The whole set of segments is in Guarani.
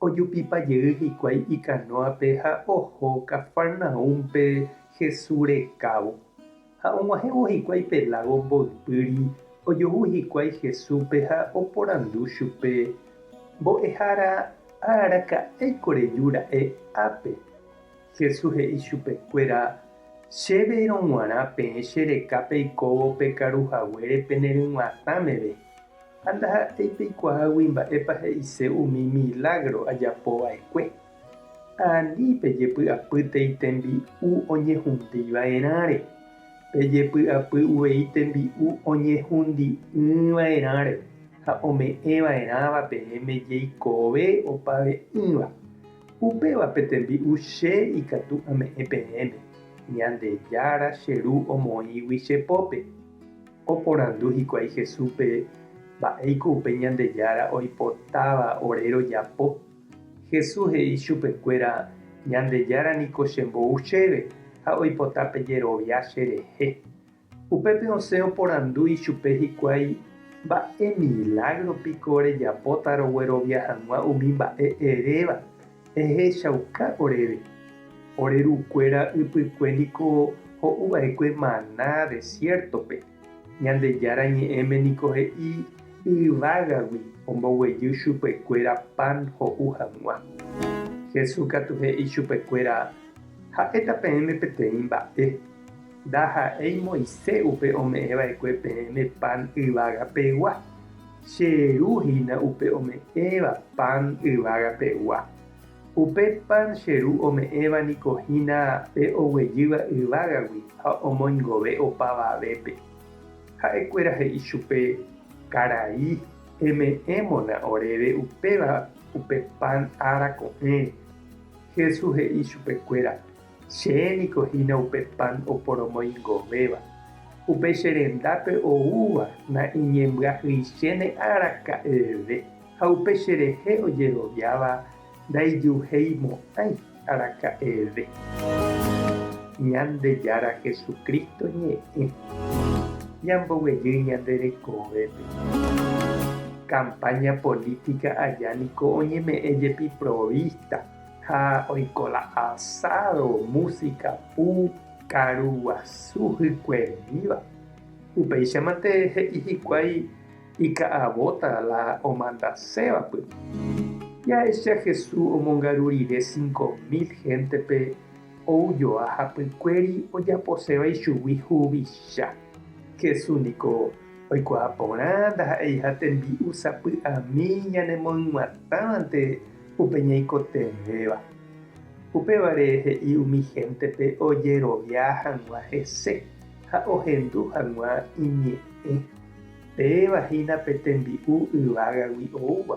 Ojupipa jey hikuái ikanóape ha oho Cafarnaúmpe Jesús rekávo. Ha og̃uahẽvo hikuái pe lágo mboypýri, ojohu hikuái Jesúspe ha oporandu chupe, Mbo'ehára, ha araka'éiko reju ra'e ápe? Jesús he'i chupekuéra, Chéve rog̃uarã peẽ che rekápe ikóvo pe karu haguére peneryguatã meve, Ha ndaha'éi peikuaágui mba'épa he'ise umi milágro ajapo va'ekue. Ha ani pejepy'apýtei tembi'u oñehundi va'erãre, pejepy'apy uvei tembi'u oñehundi'ỹ va'erãre ha ome'ẽ va'erãva peẽme jeikove opave'ỹva. Upéva pe tembi'u Che ikatu ame'ẽ peẽme, Ñandejára che Ru omoĩgui che pópe. Oporandu hikuái Jesúspe mba'éiko upe Ñandejára oipotáva ore rojapo. Jesús he'i chupekuéra, Ñandejára niko chembou chéve ha oipota pejerovia cherehe. Upépe osẽ oporandu ichupe hikuái, Mba'e milágro piko rejapóta roguerovia hag̃ua umi mba'e eréva Ehechauka oréve, ore rukuéra ypykue niko ho'u va'ekue maná desiértope, Ñandejára Ñe'ẽme niko he'i yvágagui omboguejy chupekuéra pan ho'u hag̃ua. Jesús katu he'i chupekuéra ha'éta peẽme peteĩ mba'e, ndaha'éi Moisés upe ome'ẽ va'ekue peẽme pan yvága pegua, Che Ru hína upe ome'ẽva pan yvága pegua. Upe pan Che Ru ome'ẽva niko hína pe oguejýva yvágagui ha omoingove opavavépe. Ha'e kuéra he'i chupe, Karai, eme'ẽmona oréve upéva upe pan ára ko'ẽre. Jesús he'i chupe kuéra, Che niko hína upe pan oporomoingovéva, upe che rendápe oúva naiñembyahyiichéne araka'eve, ha upe che rehe ojeroviáva ndaijuheimo'ãi araka'eve. Ñandejára Jesucristo ñe'ẽ. Ñamboguejy ñande rekovépe. Campaña política aja niko oñeme'ẽ jepi provista. ha oiko la asádo músika pu karu guasu hykuemíva. Upéichamante he'i hikuái ika'avóta la omandasévapy. Jahecha Hesu omongaru rire cinco mil héntepe ou joa hapykuéri ojaposéva ichugui huvicha. Hesu niko oikuaa porã ndaha'eiha tembi'u sapy'ami ñanemoĩguatávante Upe ñaikotevẽva. Upévare he'i umi héntepe ojerovia hag̃ua hese ha ohendu hag̃ua iñe'ẽ. Péva hína pe tembi'u yvágagui oúva,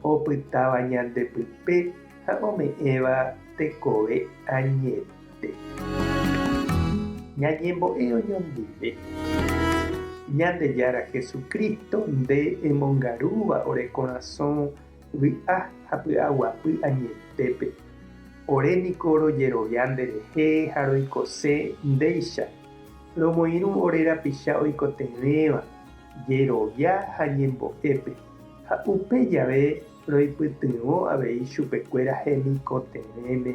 opytáva ñande pype ha ome'ẽva tekove añete. Ñañembo'e oñondive. Ñandejára Jesucristo nde emongarúva ore korasõ Vy'a ha py'aguapy añetépe, ore niko rojerovia nderehe ha roikose ndéicha, romoirũ ore rapicha oikotevẽva jerovia ha ñembo'épe, ha upe jave roipytyvõ avei chupekuéra hemikotevẽme.